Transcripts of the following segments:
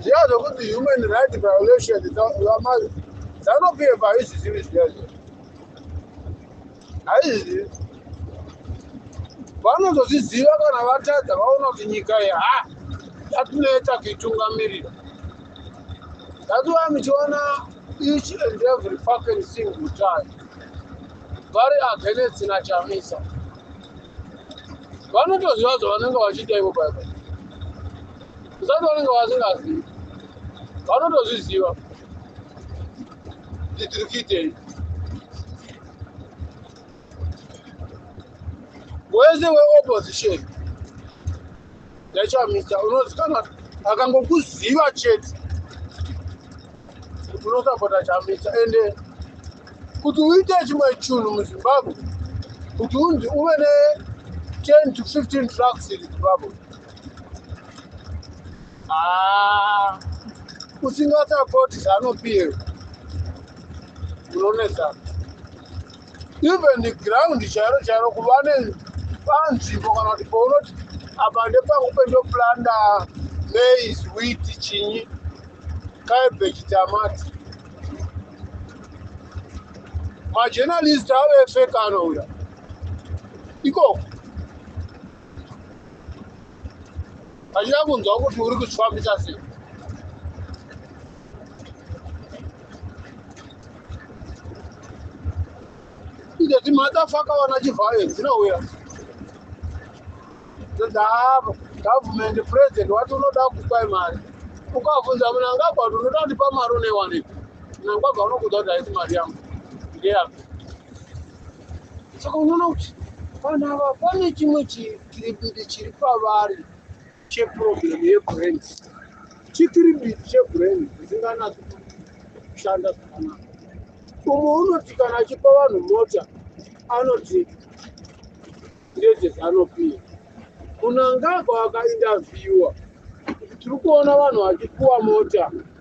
zviya zvekuti human right violation dzanopepa haizvizivi zviya zviya haizvizivi vanozozviziva kana vatadza vaona kuti nyika iyi ha yatineta kuitungamirira thats why muchiona each and every fucking single time vari against nachamisa vanotoziva zvavanenge vachiita ivo baibai kusati vanenge vasingazivi vanotozviziva kuti tiri kuitei wese weopposition yachamisa unozikanwa akangokuziva chete kuti unosapota chamisa ende kuti uite chimwe chunhu muzimbabwe kuti unzi uve ne 10 to 15 trucks in zimbabwe Ah, usingasapoti zanopiwe unonetsa even the ground chairo chairo kuva nepanzvimbo kana kuti paunoti apa ndepangu pendoplanda mais wit chinyi cabbage tamati majournalist ave efekano uya ikoko achida kunzwa kuti uri kuzvifambisa sei inde timadafaka vana chivhayo dzinouya ndavo government president wati unoda kupai mari ukavunza munangagwa kuti unoda kundipa mari unewanepi munangagwa unokuda kuti haisi mari yangu ndeyapi saka unoona kuti vanhu ava pane chimwe chikiribidi chiri pavari cheproblem yebrain chikiribidi chebrain zvisinganatsi kushanda zvakanaka umwe unoti kana achipa vanhu mota anoti ndedzezanopiwa munangagwa akaindavhiwa tiri kuona vanhu vachipuwa mota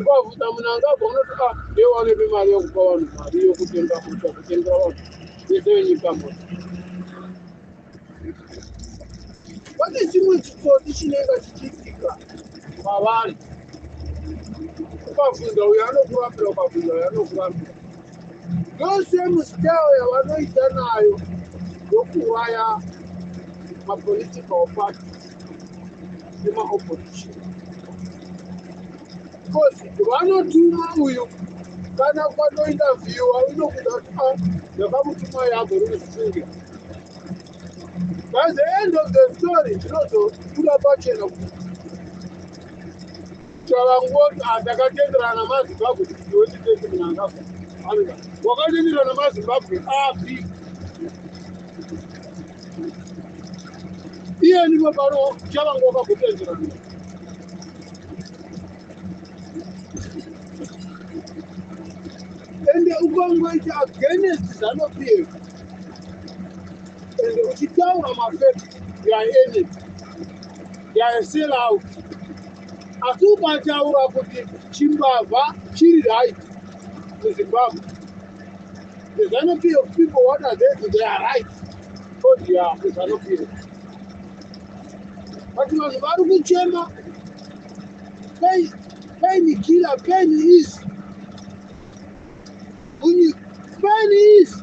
ukabvunza munhu angabva unoti a ah, ndiye wanepe mari yokupa vanhu mari yokutenga mota kutengera vanhu vese venyika mota pane chimwe chitsotsi chinenge chichiitika kwavari ukabvunza uyo anokurambira ukabvunza uyo anokurambira yose musitao yavanoita nayo yokuuraya mapolitical party nemaopposition because vanotuma uyu kana kwatointerviewa unokuda kuti a ah, ndakamutuma yabo rinozifungira by the end of the story zvinozobuda pachena kuti Chavangoti ah, takatenderana namazimbabwe kuti ndiwe nditete munangagwa anoda wakatenderwa namazimbabwe api iye ndimo pano chavanga wakagotenderana ende ukangoita against zanopf ende uchitaura mafet yaeneti they are still out asi ukataura kuti chimbavha chiri right muzimbabwe the zanopio people what are they to their right odia oh the zanopio but vanhu vari kuchema pain pain killer pain is pain is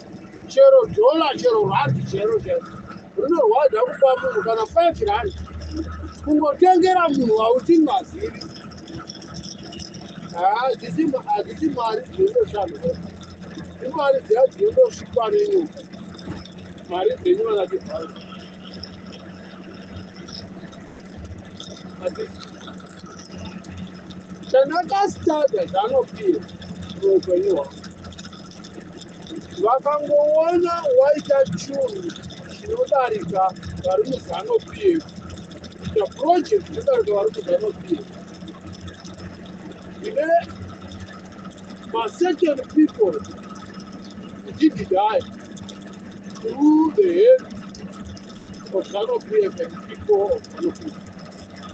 chero dhola chero randi chero chero rinorwadza kupa munhu kana five randi kungotengera munhu wausingazivi hadzisi mari dzinondoshanda imari dziya dzinondosvikwa nenyuka mari dzenyu vanatibhaa chandakasitadza zvanopira muupenyu hwangu vakangoona waita chunhu chinodarika vari muzano pf kuita project chinodarika vari muzano pf ine macertain people did die through the hand of zano pf and people of zano pf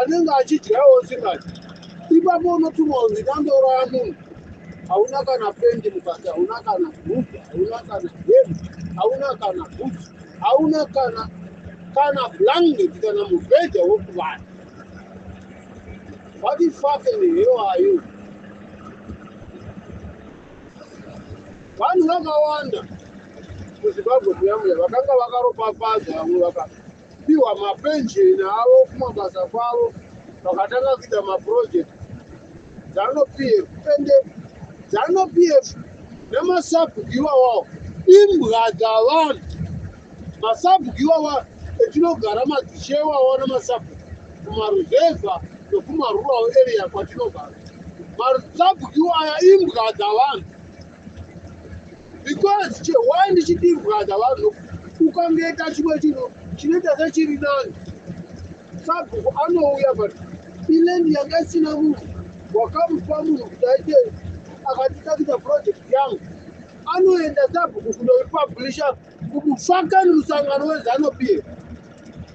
anenge achidyawo chingati ipapo unotumwa kunzi ndandouraya munhu hauna kana pendi mukati hauna kana bhuku hauna kana hemu hauna kana bhuku hauna kana kana blanket kana mubhedha wokuvana what the fuck in the hell are you vanhu vakawanda muzimbabwe kuyambuya vakanga vakaropafadza vamwe vaka Piwa mapenjeni avo kumabasa kwavo vakatanga kuita maproject zanu pf ende zanu pf nemasabhugiwa wawo imbwa dzavanhu masabhugiwa wa etinogara madzishewa wa nemasabhu kumaruzevha nekumarural area kwatinogara masabhugiwa aya imbwa dzavanhu because chewai ndichidirwadza vanhu ukangeta chimwe chinhu chinoita sechiri nani sabhuku anouya but ilendi yanga isina munhu wakamupa munhu kuti aite akatitakisa project yangu anoenda sabhuku kunoipublisha kumufakani musangano wezano bill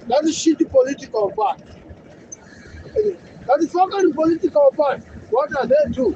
that is shit political part that is fucking political part what are they do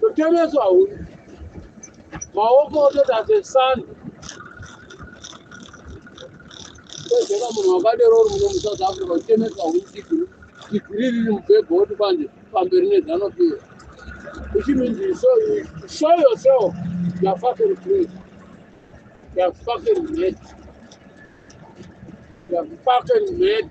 kutereswa huni maoko ototi asesani kwezveka munhu wakadero uri muno musouth africa uchitemeswa huni digiri digiri riri mubhebho woti kwanje pamberi nedzanopira which means you show, you show yourself you're fucking crazy you're fucking mad you're fucking mad